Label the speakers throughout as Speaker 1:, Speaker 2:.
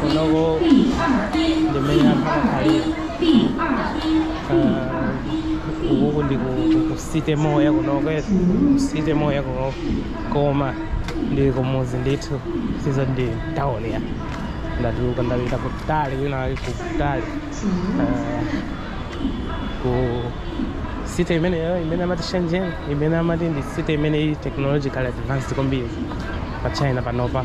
Speaker 1: kunoko ndimene anthu amakhalira ukuku ndi ku city moya kunoko ku city moya kunoko koma ndili kumuzi ndithu sizo ndi tawuni ya ndatuluka ndapita kutali wina wake kutali ku city imeneyo imene amati shenzhen imene amati ndi city imene ili technologically advanced kwambiri pa china panopa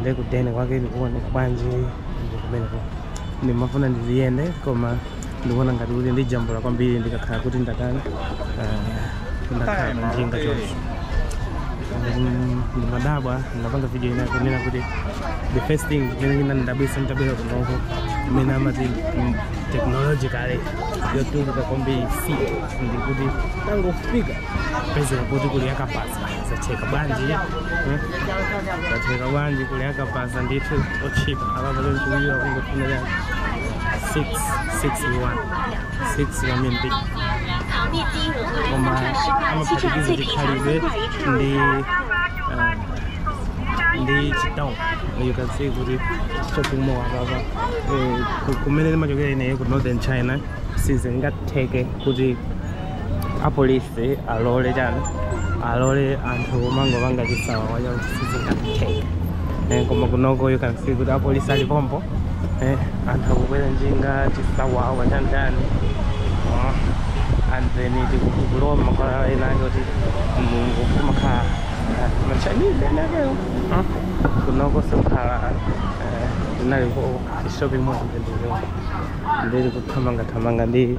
Speaker 1: nde ku den kwake ndikuoneka bwanji ndi kumeneko ndimafuna ndiliyende koma ndikuona ngati kuti ndijambula kwambiri ndikakhala kuti ndakana ah, ndakhala panjinga choncho Mm, ndimadabwa ndapanga video ina kunena kuti the first thing imene inandidabwisa ntabwera kunoko imene amati mm, technologically yotukuka kwambiri si ndikuti tangofika pezera kuti kuli akabaza zatheka bwanji hmm? zatheka bwanji kuli akabaza ndithu otchipa apapa lomchiwira kungofuna chani 6 6 6 kamene big koma amaphatikiza chikhalidwe ndi eh, ndi chitown you can see kuti shopping mall apapa eh, ku- kumene ndimachokera ineyo ku northern china sizingatheke kuti apolisi alole chani alole anthu kumangopanga chisawawa chawo sizingathe eh, koma kunoko you can see kuti apolisi ali pompo eh, anthu akubwera njinga chisawawa chantani Ah, and then tikulowa mmakwalala ena ake kuti mulungu kumakhala ah, machinese ena akewo Ah, kunoko sikukhala eh, tinali ku shopping mall ndendeo ndili kuthamangathamanga ndi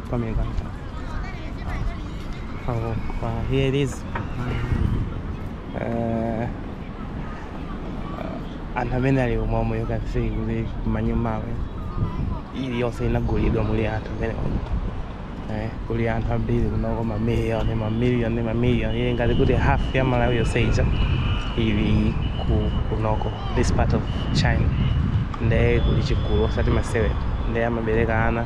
Speaker 1: Pamene kani. Oh, wow, here it is. Eh, anthu amene ali umomo yokafika kuti manyumbawa iliyonse inagulidwa muli anthu amene eh, kuli anthu ambiri kunoko mamiliyoni mamiliyoni mamiliyoni ili ngati kuti half ya malawi yonse ija ili ku kunoko this part of china nde kuli chigulu osati masewera nde amaberekana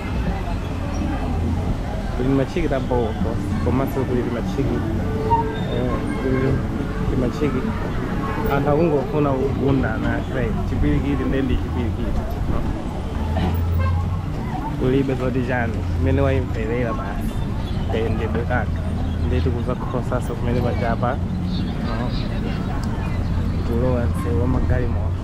Speaker 1: kuli timachiki ta bho komanso kuli timachiki eh, kuli machiki anthu akungofuna kugundana sai chipwirikiti ndiye ndi chipwirikiti kulibe zoti chani mmene wayimverera basi kayendedwe kaka ndiye tikuzakhotaso kumene panjapa kulowa msewu wa magalimoto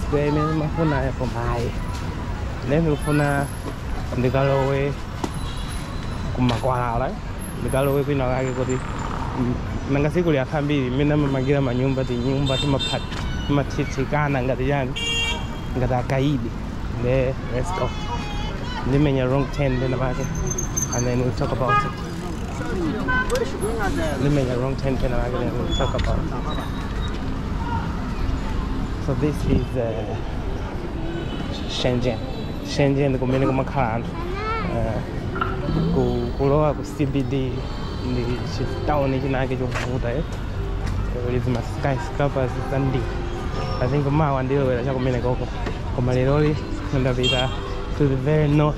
Speaker 1: Square imene imafunayi apo mayi. Ine ndikufuna ndikalowe kumakwalala ndikalowe kwina kake kuti m- nanga sikuli akhala ambiri mmene amamangira manyumba tinyumba timapha- timathithikana ngati chani ngati akaidi nde let's go ndimenya wrong turn pena pake and then we'll talk about it Let me the wrong turn and I will talk about. So this is uh, Shenzhen. Shenzhen kumene kumakhala anthu. Uh, ku- kulowa ku CBD ndi chitawuni chinake chovuta eh. Kuli ma skyscrapers zambiri. I think mawa ndilowera chakumene koko. Koma leroli ndapita to the very north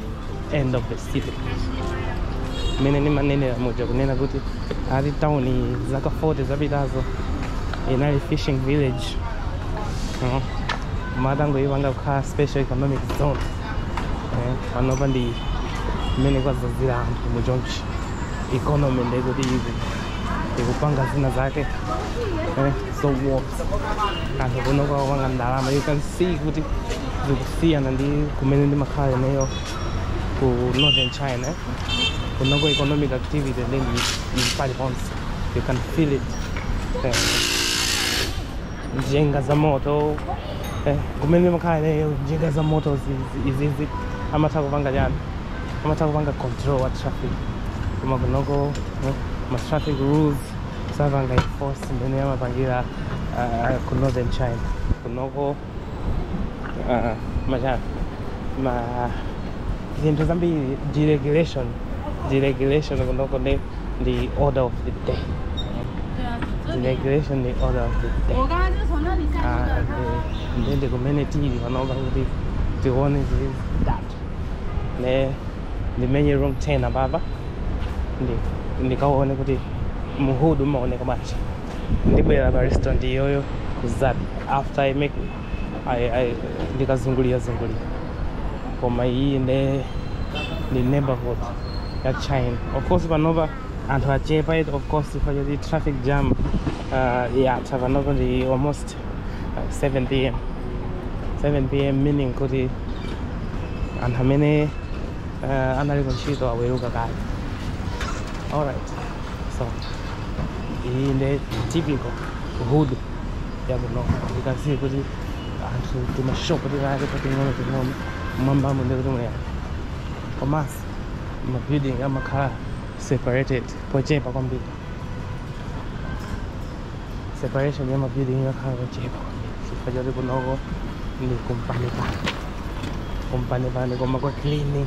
Speaker 1: end of the city mmene ndimanenera muja kunena kuti ati town iyi zaka 40 zapitazo inali fishing village Mhm. atangoipanga kukhala special economic zone Eh, panopa ndi mmene kwazazira anthu mu chonchi economy ndekuti ikupanga zina zake eh, so anthu kuno akupanga ndalama you can see kuti zikusiyana ndi kumene ndimakhala ineyo ku northern china kunoko economic activity ndi mbali zonse you can feel it eh, njinga za moto eh, kumene ndimakhala ineyo njinga za moto zi- zi- izizi amatha kupanga chani amatha kupanga control wa traffic koma kunoko eh, ma traffic rules sapanga enforce mmene amapangira uh, ku northern china kunoko uh, machani ma zinthu zambiri deregulation deregulation kunoko ndi ndi order of the day deregulation ndi order of the day Ah, ndi- ndi ndi kumene tili panopa kuti tione zili bwanji nde ndimenye wrong turn apapa ndi ndikaone kuti mu hood umaoneka bwanji ndibwera pa restaurant iyoyo kuzadya after i make I, I, ndikazungulira zungulira koma iyi nde ndi neighborhood ya china of course panopa anthu achepa it of course chifukwa choti traffic jam uh, yatha panopa ndi almost uh, 7 pm 7 pm meaning kuti anthu amene uh, anali kuntchito aweruka kale alright so iyi nde typical hood yakunoko ndikadziwe kuti anthu timashopu tikake tating'ono ting'ono mmwambamo ndi kuti muyani komanso mabuilding amakhala separated pochepa kwambiri separation ya mabuilding imakhala pochepa kwambiri chifukwa choti kunoko ndi kumpanipani kumpanipani koma kwa cleaning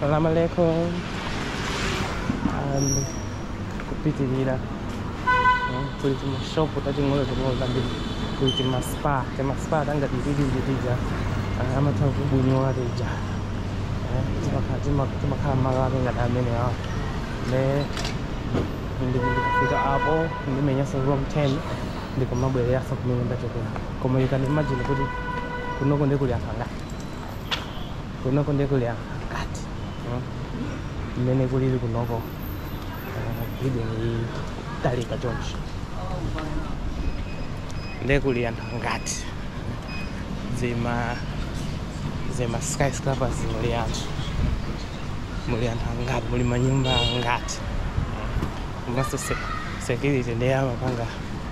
Speaker 1: Salam alaikum. Ndiye kupitirira kuli timashopu tating'ono ting'ono tambiri kuli timaspa timaspa tangati timene tija amatha kubwinyola tija timakhala malo ake ngati amene awo nde ndikafika apo ndimenyaso U-turn ndikumabwereranso kumene ndachokera koma you can imagine kuti kunoko ndiye kuli anthu angati kunoko ndiye kuli anthu angati mm? mmene kulili kunoko uh, building iyi talika choncho ndiye kuli anthu angati zima zima skyscrapers muli anthu muli anthu angati muli manyumba angati komanso security ndiye amapanga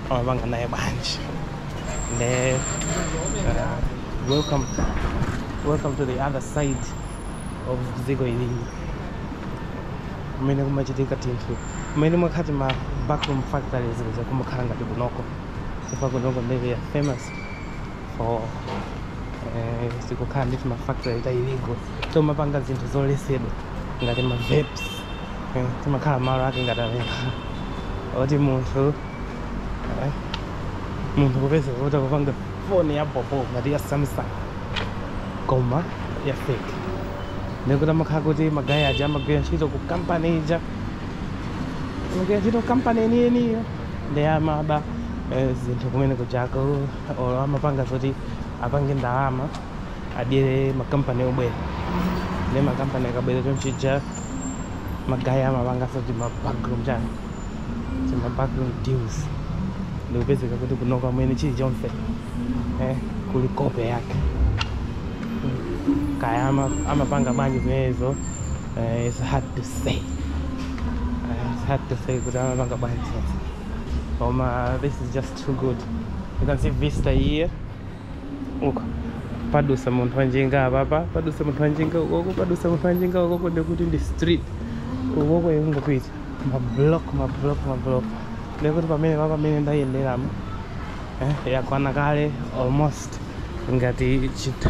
Speaker 1: amapanga naye bwanji ndiye uh, welcome welcome to the other side of dziko ilili kumene kumachitika tinthu kumene mwamkati ma backroom factories izo kumakhala ngati kunoko chifukwa kunoko nde kuli famous for eh, kukhala ndi timafactory ta illegal tomapanga zinthu zoletsedwa ngati ma vapes timakhala malo ake ngati amene oti munthu eh, munthu kupeza kuti akupanga foni ya bobo ngati ya samsung koma ya fake ndikuti amakhala kuti magaya aja amagwira ntchito ku kampani ija amagwira ntchito ku kampani yeniyeniyo ndiye amaba eh, zinthu kumene kujako olo amapanga zoti apange ndalama adyere makampani obwera nde makampani akabwera chonchija magaya amapanganso tima backroom chani tima backroom deals ndikupezeka kuti kunoko mmene chilichonse eh, kuli kope yake kaya amapanga bwanji zimenezo eh, it's hard to say eh, it's hard to say kuti amapanga bwanji koma this is just too good you can see vista here uko padutsa munthu wanjinga apapa padutsa munthu wanjinga ukoko padutsa munthu wanjinga ukoko ndikuti ndi street ukoko ikungopita mablock mablock mablock ndikuti pamene pa pamene ndayenderamo eh, yakwana kale almost ngati chita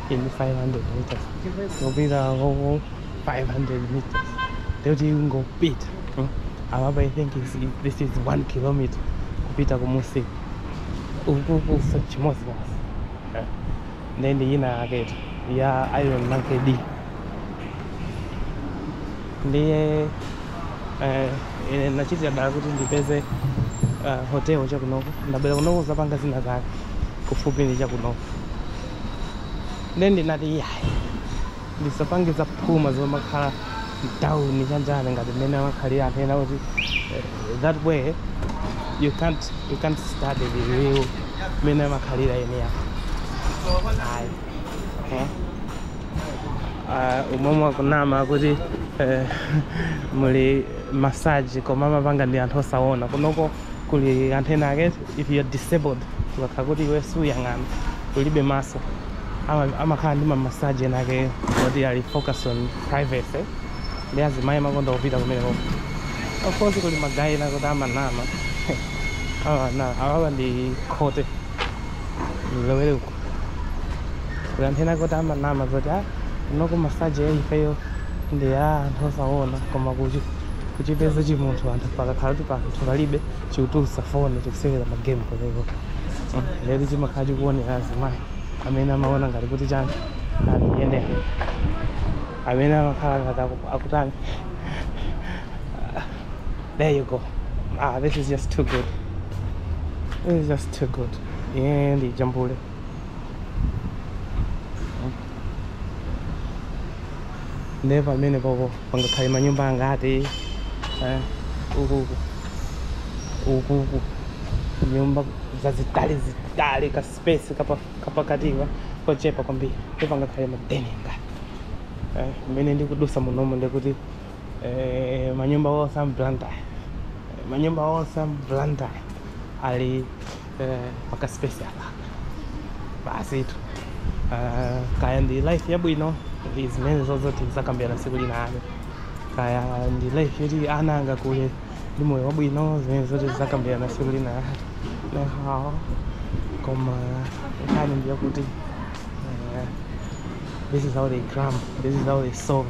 Speaker 1: in 500 meters. Kupita ngoko 500 meters. Nde kuti tingopita. Hmm? Amaba I think is, this is 1 kilometer kupita kumusi. Ukuku so chimodzi basi. Eh. Then yina yake ya Iron Monkey D. Ndiye eh, ine nachitira dala kuti ndipeze uh, hotel chakunoko ndabwera kunoko kudzapanga zina zake kufupi ndi chakunoko nde ndinati iyayi ndisapange zaphuma zomakhala mtawuni chanjani ngati mmene amakhalira anthu ena kuti eh, that way you can't, you can't study the real mmene amakhalira eni ake ayi eh? uh, umomwe akunama kuti uh, muli masaji koma amapanga ndi anthu osaona kunoko kuli anthu ena ake if you are disabled ukakhala kuti iwe suuyang'ana ulibe maso ama- amakhala ndi mamasaji enaake oti ali focus on privacy ndi azimayi amakonda kupita kumeneko of course kuli magayi ena kuti amanama amanama awawa ndi khote lowere kuti anthu ena kuti amanama zoti a kunoko masaji ya ifeyo ndi ya anthu osaona koma kuchi- kuchipeza chimunthu anthu pakakhala kuti anthu palibe chikutulutsa foni chikusewera magemu kumeneko lero chimakhala chikuonera azimayi amene amaona ngati kuti chani andiyenera amene amakhala ngati aku- akutani there you go ah this is just too good this is just too good Ndiye ndijambule. Ndiye pamene popo pangakhale manyumba angati eh, ukuku ukuku nyumba zazitali zitali ka space kapa- kapakatiwa kochepa kwambiri ndiye pangakhale madeni angati Eh, mmene ndikudutsa munomo ndikuti eh, manyumba onse a mplanta manyumba onse a mplanta ali eh, pakaspace apa basi tu Ah, kaya ndi life yabwino ndi zimenezo zoti tidzakambirana tsiku linalo kaya ndi life yoti ana angakule ndi moyo wabwino zimenezo tidzakambirana tsiku linalo naho koma nkhani ndiyakuti eh, this is how they cram this is how they solve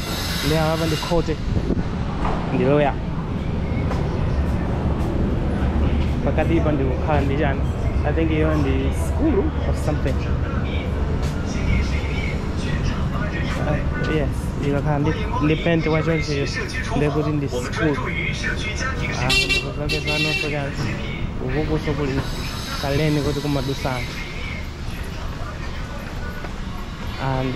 Speaker 1: ndi apa ndi khoti ndi loya pakati pa ndikukhala ndi chani i think iyo ndi school or something Uh, yes ikakhala ndi ndi penti wachoncheyo ndekuti ndi school kuzakezanonso chani ukukuso kuli kalaini kuti kumadutsa anthu and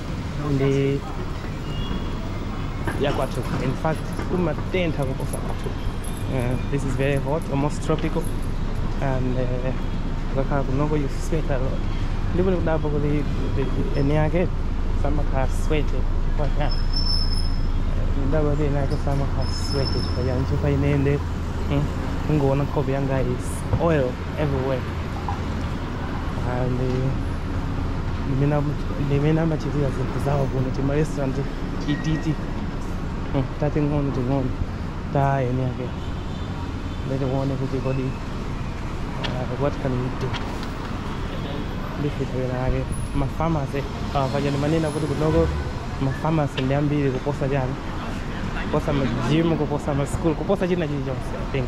Speaker 1: ndi yakwathu in fact kumatentha kuposa kwathu uh, this is very hot almost tropical and uh, ukakhala kunoko you sweat a lot ndipo ndikudabwa kuti the- the- eni yake samakhala sweaty chifukwa chani ndadabwa kuti eni yake samakhala sweaty chifukwa chani chifukwa ine nde mm, ungoona nkhope yanga is oil everywhere and ndimene am- ndimene amachitira zinthu zawo kuno tima restaurant tititi hmm, tating'ono ting'ono ta eni ake nde tikuone kuti kodi uh, what can we do ndifitawira yake mafamasi paja ndimanena kuti kunoko mafamasi ndi ambiri kuposa chani kuposa majimu kuposa masukulu kuposa china chilichonse i think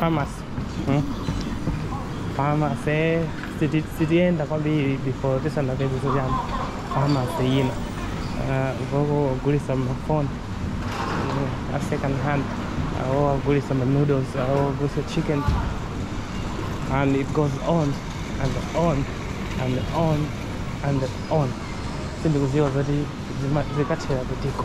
Speaker 1: pharmacy hmm? pharmacy siti- sitiyenda kwambiri before tisanapeze zoyamba pharmacy yina Ah, uko akugulitsa mafoni a second hand awo akugulitsa ma noodles awo akugulitsa chicken and it goes on and on and on and on sindikudziwa zoti zima- zikathera kutiko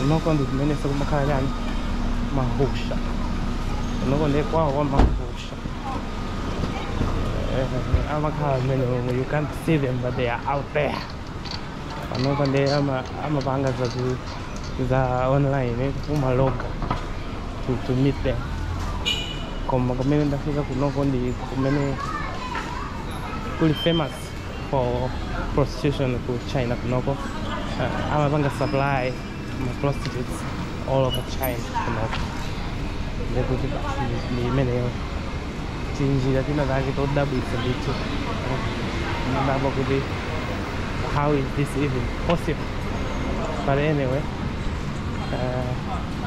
Speaker 1: kunoko ndi kumeneso kumakhala chani mahusha kunoko ndiye kwawo kwa mahusha Eh, amakhala amene omwe you can't see them but they are out there panopa ndiye ama- amapanga za ku- za online eh, kumaloga to, to meet them koma kumene ndafika kunoko ndi kumene kuli famous for prostitution ku china kunoko uh, amapanga supply ma prostitutes all over china kunoko ndekuti basi ndi- ndi imeneyo tinjira tina take todabwitsa ndithu umadabwa kuti how is this even possible but anyway uh,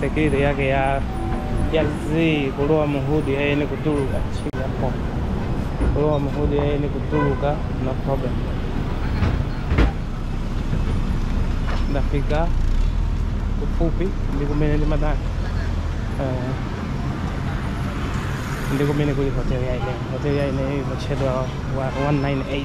Speaker 1: security yake ya ya zii kulowa muhudi ya eni kutuluka chigapo kulowa muhudi ya eni kutuluka no problem ndafika kufupi ndi kumene ndimatani uh, ndi kumene kuli hotel ya ineyo hotel ya ineyo imatchedwa wa- 198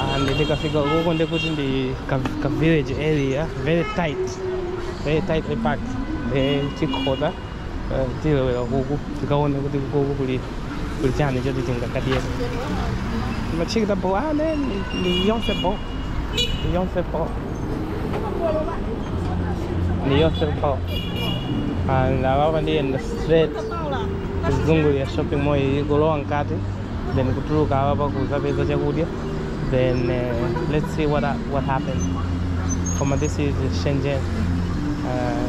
Speaker 1: and ndikafika ukoko nde kuti ndi ka, ka village area very tight very tightly packed the chikhoza tilowera kuku tikaone kuti kuku kuli kuli chani choti tingakadye McChicken bo ane ni yonse bo ni yonse bo ni yonse bo and ababa ndiziyenda straight kuzungulira shopping mall iyi kulowa mkati then kutuluka apapa kuzapeza chakudya then uh, let's see what, what happens koma this is shenzhen uh,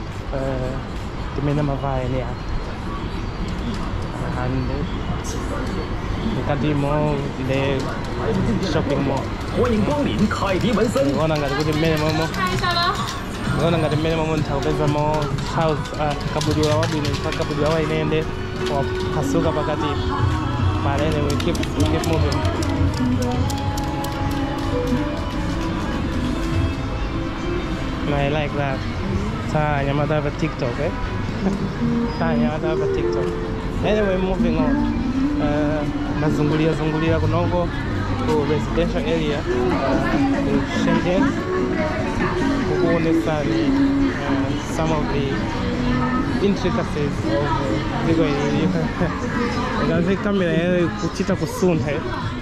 Speaker 1: Timene uh, tavalamu and mkati mu the shopping mall. Ngona ngati kuti mmene momo ngona ngati mmene momo ntha kupeza mo house uh, kabudula wabwino mpaka kabudula wainende wapasuka pakati but anyway keep, keep moving I like that Tanya, I'm not have a TikTok, eh? Tanya, I'm not have a TikTok. Anyway, moving on. Uh, nazungulia zungulia kunoko ku residential area in Shenzhen. Kukuonesani uh, some of the intricacies of uh, dziko ili. Ngazi kamera yayo kuchita kusuntha. eh?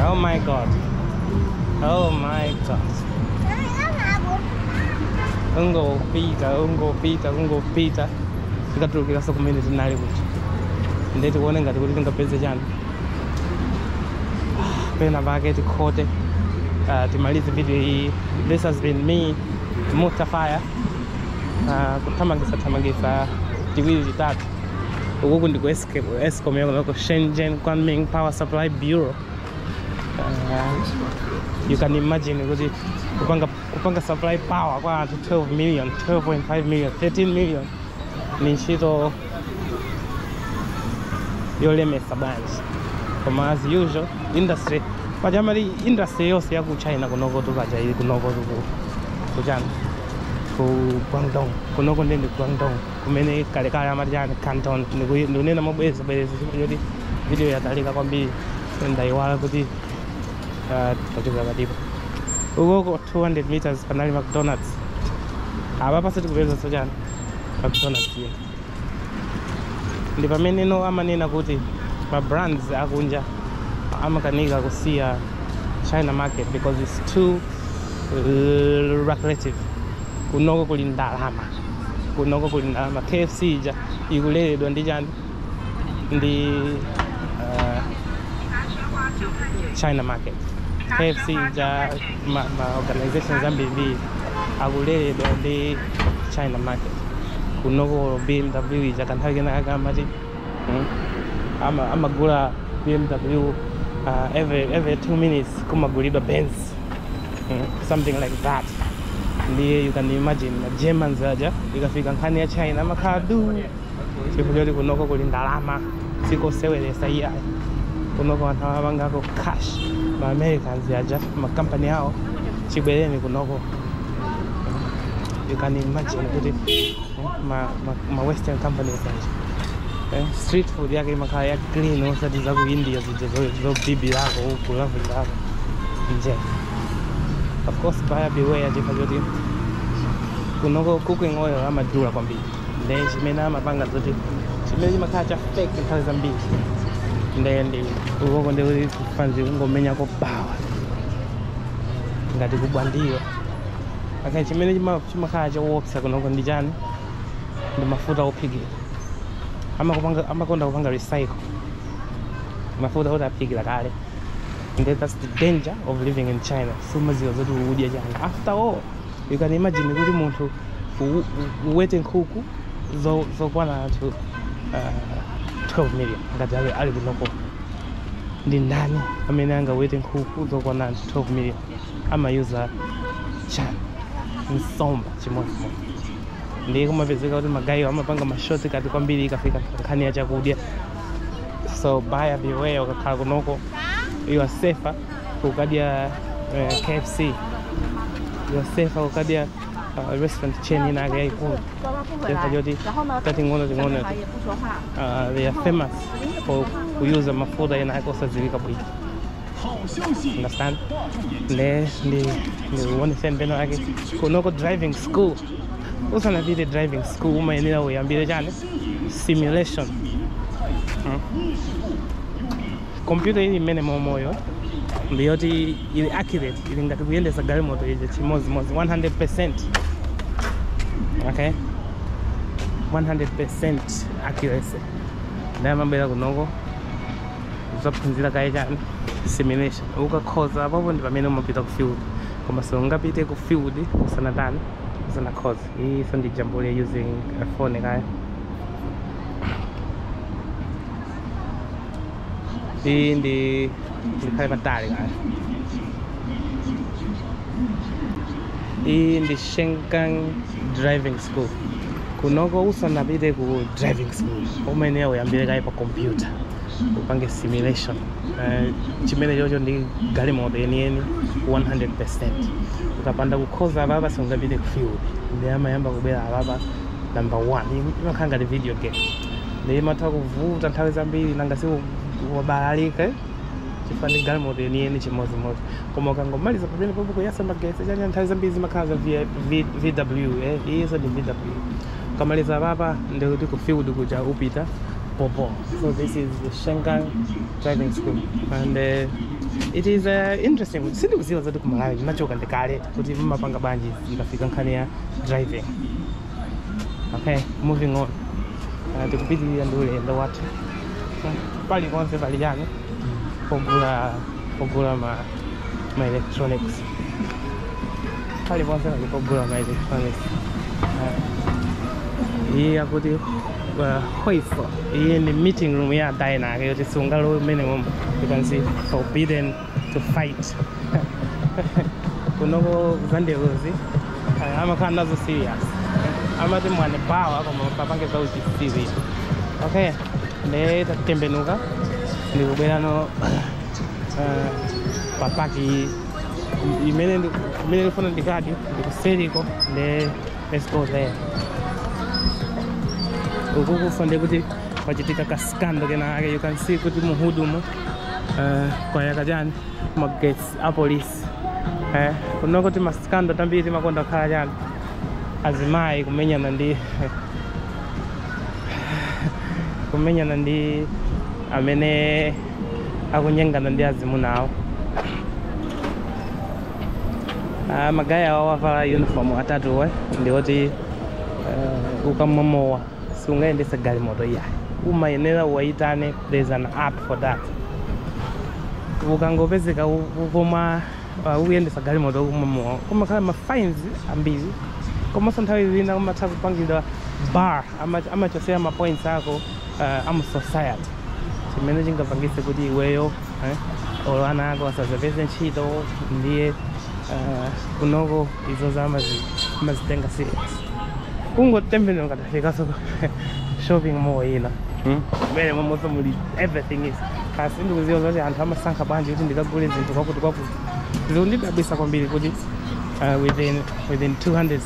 Speaker 1: Oh my god. Oh my god. Ungopita, ungopita, ungopita. Tikatulukiranso kumene tinali kuti. Ndiye tikuone ngati kuti tingapeze chani. Pena pake tikhote. Uh, timalize video iyi. This has been me. mutafuna ah, kuthamangisa thamangisa tiwiri titatu ukuku ndi ku Escape- escom yakunoko shenzhen kunming power supply bureau Ah, you can imagine kuti kupanga, kupanga supply power kwa anthu 12 million 12.5 million 13 million ni ntchito yolemesa bwanji koma as usual industry paja ma industry yonse yaku china kunoko tu kaja ili kunoko tu ku kuchani ku guangdong kunoko ndende guangdong kumene kalekale amati chani canton Ndiku- ndikunena mobweza bwereza chifukwa choti video yatalika kwambiri ndayiwala kuti ah, tachokera patipo ukoko 200 meters panali mcdonalds apa patha kupezekanso chani akugona dzulo ndi pamene no amanena kuti ma brands akunja amakanika kusiya china market because it's too lucrative kunoko kuli ndalama kunoko kuli ndalama kfc ija ikuleredwa ndi chani in the uh, China market. KFC ndi ma, ma organization zambiri akuleredwa ndi China market. Kunoko BMW ija kanthawi kena akamati mm, ama amagula BMW uh, every every 2 minutes kumagulidwa Benz. Mm, something like that. Ndiye you can imagine ma Germans aja ikafika nkhani ya China amakhala duu chifukwa choti kunoko kuli ndalama sikoseweretsa iyayi kunoko anthu amapangako cash ma americans aja makampani awo chibwereni kunoko you can imagine kuti eh, ma, ma, ma western companies aja eh, street food yake imakhala ya clean osati za ku india zija zo- zobibirako uko lavulirako nje of course buyer beware chifukwa choti kunoko cooking oil amadula kwambiri nde chimene amapanga n'choti chimene chimakhala cha fake nthawi zambiri nde ndi ukuoko ndi kuti fanzi kungomenyako bawa ngati ku Bwandilo aka chimene chima- chimakhala chowopsa kunoko ndi chani ndi mafuta ophikira Amakupanga- amakonda kupanga recycle mafuta oti aphikira kale and that's the danger of living in china sumaziwa zoti ukudya chani after all you can imagine kuti munthu u- u- uwete nkhuku zo- zokwana anthu uh, 12 million ngati ali, ali kunoko ndi ndani amene angawete nkhuku zokwana anthu 12 million amayuza chiyani nsomba chimodzimodzi ndiye kumapezeka kuti magayewa amapanga ma shortcut kwambiri ikafika nkhani ya chakudya so buyer beware ukakhala kunoko you are safer kukadya eh, KFC you're safer kukadya uh, restaurant chain ina yake yaikulu over ma joint tating'ono ting'onoti uh, they are famous for kuyuza mafuta ina yake osadziwika bwino understand nde ndi ndikuonetseni pena pake kunoko driving school usanapite driving school umayenera uyambire chani simulation Mm. Kompyuta ili mmenemomoyo ndi yoti ili accurate, ili ngati kuyendetsa galimoto ija chimodzimodzi 100%. Okay? 100% accuracy. Ndiye ukabwera kunoko uzaphunzira kaye chani simulation. Ukakhoza apapo ndi pamene umapita ku field. Koma siungapite ku field usanatani usanakhoza. Iyi so ndijambule using a phone kaye. ndidikhale patali kaye iyi ndi Shenkan driving school kunoko usanapite ku driving school umene uyambire kaye pa computer upange simulation uh, chimene chocho ndi galimoto yeniyeni 100 ukapanda kukhoza apapa sungapite ku field ndiye amayamba kubwera apapa number 1 imakhala ngati video game ndiye imatha kuvuta nthawi zambiri nanga si wabalalika chifukwa ndi galimoto yeniyeni chimodzimodzi koma ukangomaliza pamene popo kuyasa magesi chanya nthawi zambiri zimakhala za VI- V- vw eh, iyenso ndi vw ukamaliza papa ndikuti ku field kuja upita popo so this is the Shenkan driving school and uh, it is uh, interesting kuti sindikuziwa zoti kumalawi ndinachoka ndikale kuti mumapanga bwanji ikafika nkhani ya driving okay moving on Ah, tikupitirira ndi ulendo wathu paliponse pali chani pogula pogula ma ma electronics paliponse pali pogula ma electronics Ah, iyi akuti uh, hoifo iyi ndi meeting room ya dinake yoti sungalowe mmene momo you can see forbidden to fight kunoko za ndelozi eh, amakhala nazo serious amati mwene bawa koma osapange za uchitsiru okay nde tatembenuka ndikubwerera eh, papaki imene ndi- imene ndifuna ndikadye ndikuseriko nde let's go there ukuku pande kuti pachitika kasikando kenakake you can see kuti mu hudumu eh, kwayaka chani magetsi a polisi eh, kunoko timasikando tambiri timakonda kukhala chani azimayi kumenyana ndi kumenyana ndi amene akunyengana ndi azimuna awo Ah, magaye awa avala uniform atatuwa ndi oti eh, ukamwa mowa siungayendetse galimoto iyayi umayenera uwayitane there is an app for that ukangopezeka utamwa uh, ukuyendetsa galimoto utamwa mowa kumakhala ma fines ambiri komanso nthawi zina umatha kupangidwa bar ama- amachosera ma points ako uh, a mu society chimene chingapangitse kuti iweyo eh? olo ana ako asazapeze ntchito ndiye uh, kunoko izozo amazi- amazitenga serious kungotembenukako tafikaso shopping mall ina Hmm? kumene momwenso muli everything is kaya sindikuziwa zoti anthu amasankha bwanji kuti ndikagule zinthu kwakuti kwakuti zikundidabwisa kwambiri kuti uh, within within 200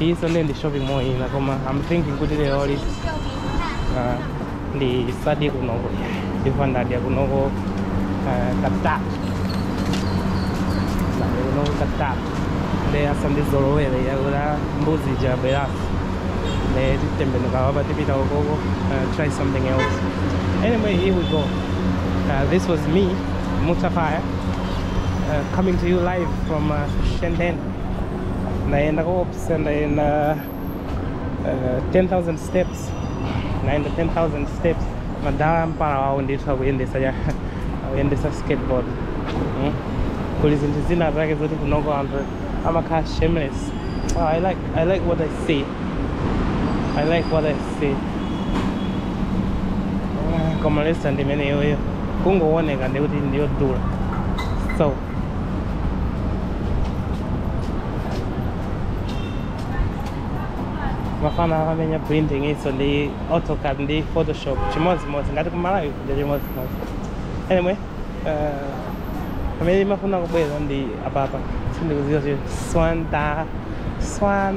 Speaker 1: iyiso ndiye ndi shopping mall ina koma am thinking kuti leroli ah, ndisadye kunoko ndifa ndadya kunoko ah, katatu ndadya kunoko katatu nde asandizolowere yakuti mbuzi jabweraso nde titembenuka wapa tipita ukoko ah, try something else anyway here we go uh, this was me mutafaya uh, coming to you live from uh, shenzhen ndayenda koopsa ndayenda uh, 10000 steps ndayenda 10000 steps madala a mpala wawo ndithu akuyendesa ya akuyendesa skateboard mm? kuli zinthu zina zake zoti kunoko anthu amakhala shameless oh, I, like, i like what i see i like what i see Ah, koma lesa ndi imeneyoyo kungooneka ndi kuti ndiyodula so mafana amamenya printing-so ndi autocad ndi photoshop chimodzimodzi ngati ku Malawi kuja chimodzimodzi anyway uh, pamene imafuna kubwezedwa ndi apapa sindikuziwa swanta swan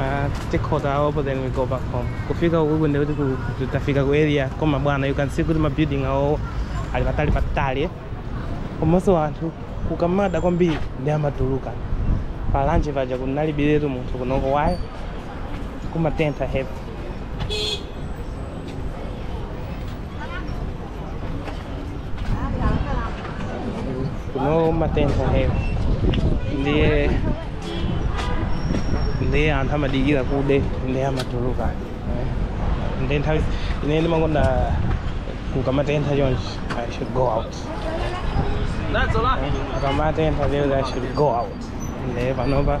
Speaker 1: Ah, tikhota apo then we go back home kufika ukuku ndikuti ku- ku- tafika ku area koma bwana you can see kuti mabuilding awowo ali patali patali komanso anthu kukamada kwambiri nde amatuluka palanje paja kunalibiretu munthu kunoko ayi kumatentha heavy kuno kumatentha heavy ndiye ndiye anthu amadikira kude ndiye amatuluka eh. ndiye nthawi ine ndimakonda kukamatentha chonchi i should go out That's a lot. kukamatentha lero i should go out ndiye panopa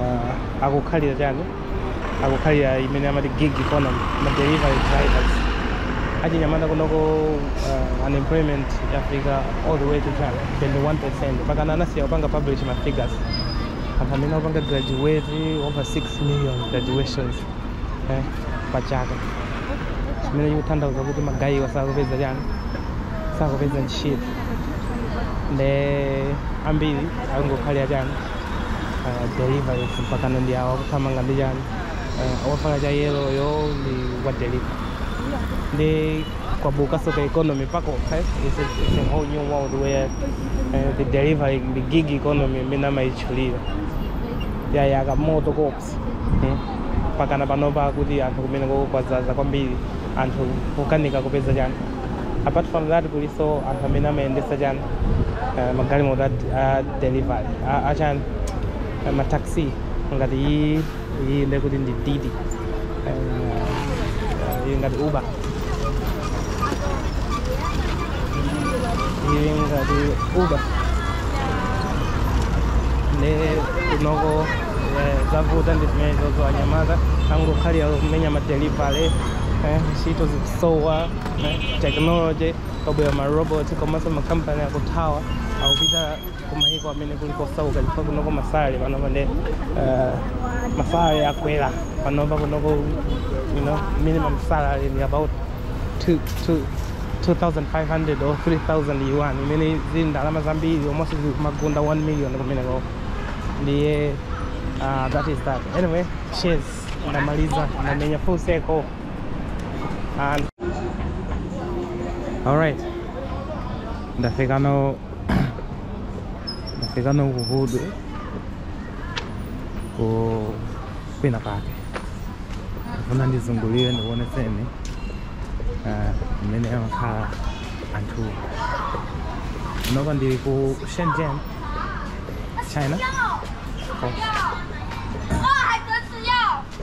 Speaker 1: uh, akukhalira chani akukhalira imene amati gig economy ma delivery drivers achinyamata kunoko uh, unemployment yafika all the way to chani 21 percent pakana anasiya kupanga publish ma figures anthu amene akupanga graduate over 6 million graduates eh, pa chaka chimene chikutanthauza kuti magayiwa sakupeza chani sakupeza ntchito nde ambiri akungokhalira chani delivery uku mpakana ndi awo akuthamanga ndi chani uh, wavala cha yellow-yo ndi wa delivery ndi kwabukaso ka economy pako eh? it's, a, it's a whole new world where uh, the delivery the gig economy imene amayitchulira yayaka moto koopsa eh? pakana panopa kuti anthu kumenekoko kwazaza kwambiri anthu kukanika kupeza chani apart from that kuliso anthu amene amayendesa chani uh, magalimoto a delivery a, a chani a ma taxi ngati iyi iyi nde kuti ndi didi Eh, eh, iyi ngati uber iyi ngati uber nde kunoko eh, zavuta ndi zimenezozo anyamata akungokhalira kumenya ma delivery eh, ntchito zikusowa eh, technology Kwabwera maroboti komanso makampani akuthawa akupita kumayiko amene kuli kosauka chifukwa kunoko masalary panopa ndi eh, masalary akwera panopa kunoko you know, minimum salary ni about two- two- 2500 or 3000 yuan imene zili ndalama zambiri almost zimagunda 1 million kumeneko ndiye uh, that is that anyway cheers ndamaliza ndamenya full circle And all right. Ndafika no ndafika no kuhudu ku kwina pake ndifuna ndizungulire ndikuonetseni eh, mmene amakhala anthu kuno ndili ku shenzhen china Oh.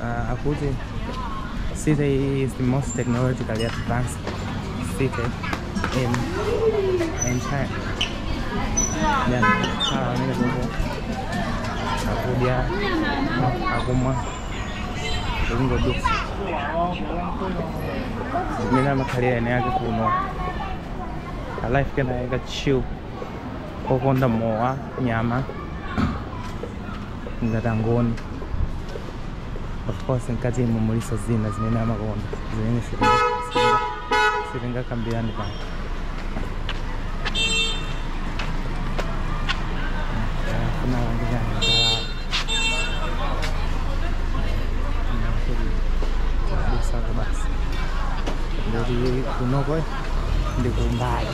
Speaker 1: uh, akuti city is the most technologically advanced city in in China. Nde akhala amene kuko akudya akumwa kuli ngodutsa mmene amakhalira ene ake kuno a life kena yaka chill okonda mowa nyama ngati angoni of course mkati umo muliso zina zimene amakonda zimene sitingakambirani pano basi ndikuti kunoko ndikumbali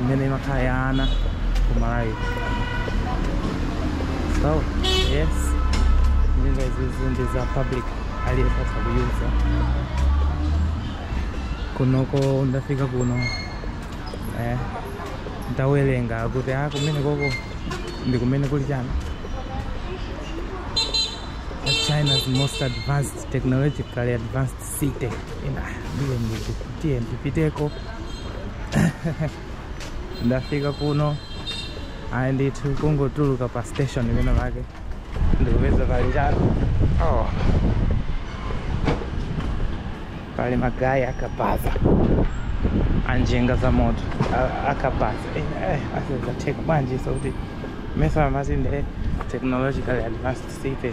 Speaker 1: imene imakhala ya ana ku malawi so yes njinga izizi ndi za public aliyense atha kuyuza kunoko ndafika kuno eh, ndawerenga kuti a kumeneko uko ndi kumene kuli chani China's most advanced technologically advanced city ina ndiye ndinati ndipiteko ndafika kuno ayi ndithu kungotuluka pa station imene pake ndikupeza pali ujeni oh. pali magayi akabaza anjinga za moto a- akabaza zatheka bwanji so kuti mesa amati nde technologically advanced city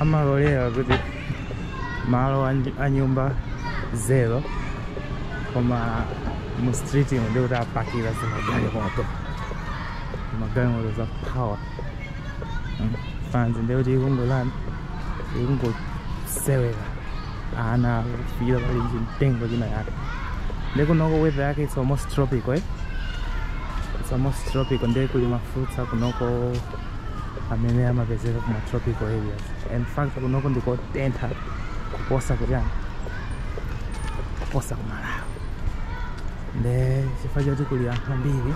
Speaker 1: amalolera kuti malo a nyumba zero koma mu street ino ndikuti apakira zimagalimoto zimagalimoto za power hmm. fanzi ndikuti ikungotani ikungosewera ana kufikira pali chimtengo chinachake nde kunoko weather yake it's almost tropical eh? it's almost tropical ndiye kuli mafruits akunoko amene amapezeka kuma tropical areas in fact kunoko ndikotentha kuposa kutani kuposa kumalawi nde chifukwa choti kuli anthu ambiri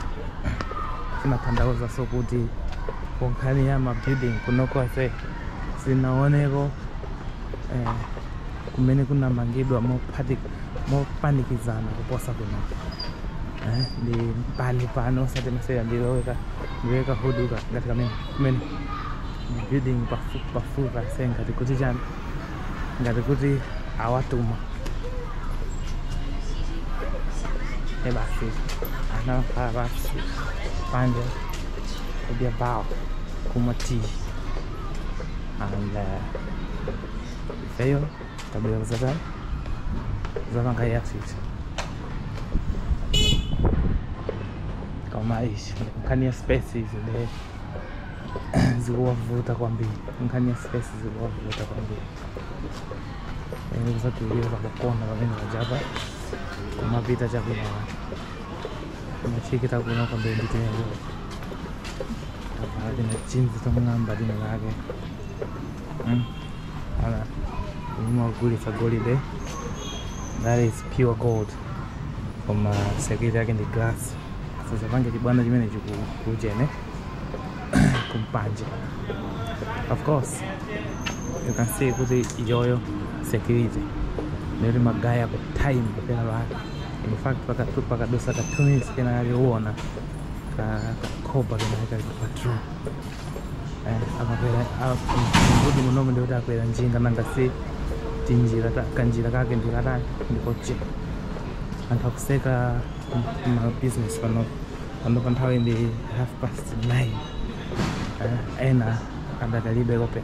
Speaker 1: zimatanthauzaso kuti kunkhani ya mabuilding kunoko ase sinaoneko eh, kumene kunamangidwa mophati- mopanikizana kuposa kunoko eh, ndi mpanipani osati masewera ndiloweka ndiloweka huduka ngati kamene kumene building pafupi pafupi ase ngati kuti chani ngati kuti awatuma e basi anamfala basi panja kudya bao kumwa tii and uh, ifeyo Tabii zaten zaman kayak sih. Koma ishi nkhani ya space nde zikuwavuta kwambiri nkhani ya space zikuwavuta kwambiri yani kusatuliwa pakona pamene pajapa kumapita chakwinakwake kumachikita kuno kwambiri nditengo apa tina chinzi tomwe namba lino lake Mm. Ala. Umu amagulitsa golide. That is pure gold. Koma security yake ndi glass. Asazapange chibwana chimene chikuchene kumpanje. Of course. You can see kuti iyoyo security. Neri magaya ku time kapena laka. In fact paka tu pakadutsa ka 2 minutes kenakake uona ka ka khopa kenakake ka patrol. akakwera kuti munomu ndikuti akwera njinga nanga si tinjira kanjira kake ndikatani ndikochepa anthu akutseka mabusiness pano panopa nthawi ndi half past nine ena adakalibe open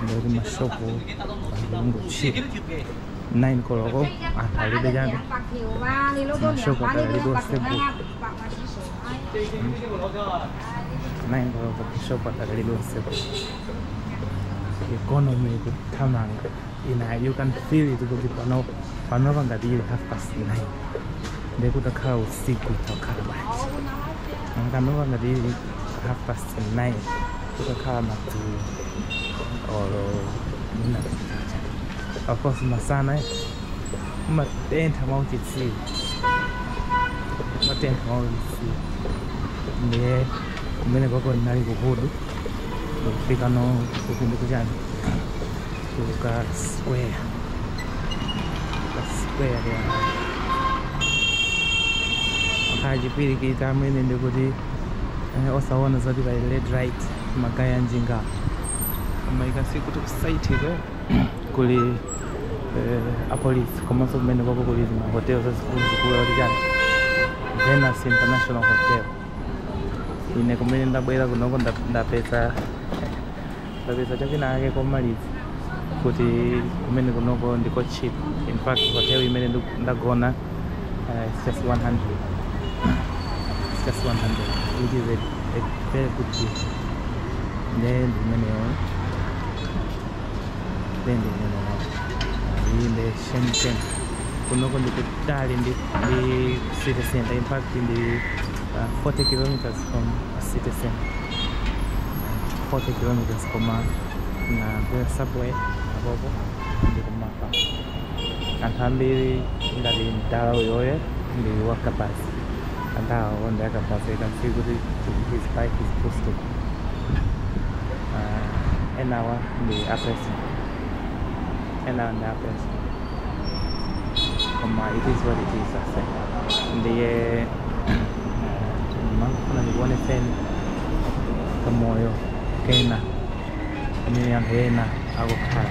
Speaker 1: ndikuti mashopu andikungochira nine koloko anthu alibe chani mashopu adakalibe otseguka nangokutishopa takali tonse economy kuthamanga ina you can feel it kuti pano panopa ngati ili half past nine ndekutakhala usiku takhala bwanji panopa ngati ili half past nine kutakhala madzulo or midnight of course masana eh? Matentha mwa uchitsiru. Matentha mwa uchitsiru. Ndiye kumeneko ndinali ku hood ndikufika kuno kuti ndikuchani kuka square ka square ya achipirikiti amene ndikuti eh, osaona zoti pa red right ma guy a njinga koma ikasiku tikusaitikwe kuli eh, apolisi komanso kumeneko kuli mahotelo zazikuluzikulu kuti chani venus international hotel ine kumene ndabwera kunoko nda- ndapeza ndapeza chakina ake komaliza kuti kumene kunoko ndiko cheap in fact hotel imene ndu- ndagona uh, it's just 100 it's just 100 which is a, a very good deal then imeneyo nde kumeneko inde kunoko ndikutali ndi ndi city center in fact ndi uh, 40 kilometers from city center 40 kilometers koma ndakwera subway apapa ndi kumawa anthu ambiri ngati mdala uyoyo ndi wakabaza enawo ndi akabaza you can see kuti his bike is posted enawa ndi a president enawa ndi a president koma it is what it is aise ndiye ndimangofuna ndikuoneseni kamoyo kena kamene anthu ena akukhala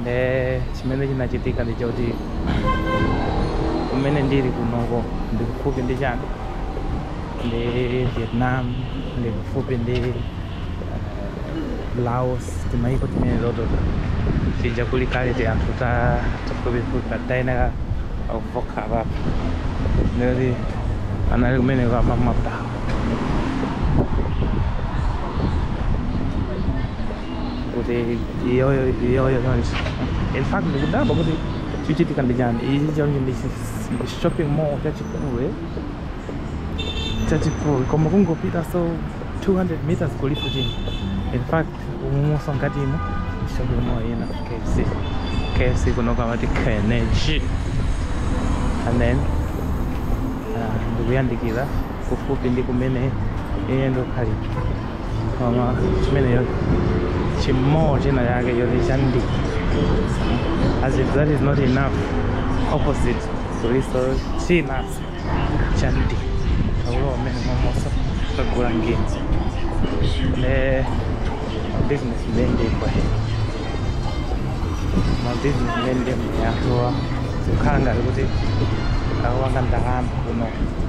Speaker 1: nde chimene chinachitika ndi choti kumene ndili kunoko ndi kufupi ndi chani ndi vietnam ndi kufupi ndi eh, laos timayiko timene timeneto tija kuli kale ti anthu ta tafupifupi patayenera kuvoka papa ndikuti anali kumene kwamamaptawo kuti iyoyo iyoyo chonchi in fact ndikudabwa kuti chichitika ndi chani ichi chonchi ndi chi- ndi shopping mall chachikulu eh? chachikulu koma kungopita so 200 meters kulipo chini in fact umunso ngati umo ndi shopping mall ina kfc kfc kunoko amati kenchi and then ah, ndikuyandikira kufupi ndi kumene ine ndikukhalira koma chimenecho chi mall china chake choti chandi as if that is not enough opposite kulinso china chandi akulowa mmenemonso kagula ngenzi ne business ndendekwe ma business ndendekwe atowa zikukhala ngati kuti akupanga ndalama kuno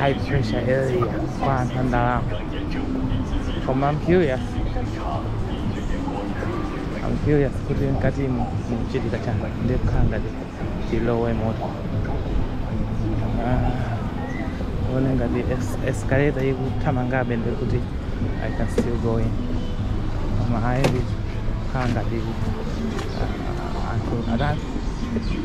Speaker 1: high pressure area kwa anthu andalama koma I'm curious I'm curious kuti mkati mu muchitika chani ndikukhala ngati ndilowemo to Ah, ndione ngati es- escalator ikuthamangabe nde kuti I can still go in koma ayi zikukhala ngati ah, anthu atatu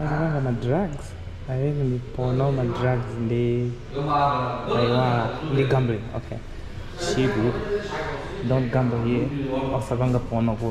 Speaker 1: osapanga ma drugs i think ndi porno ma drugs ndinaiwala ndi gambling okay chiku don't gamble here osapanga porno ku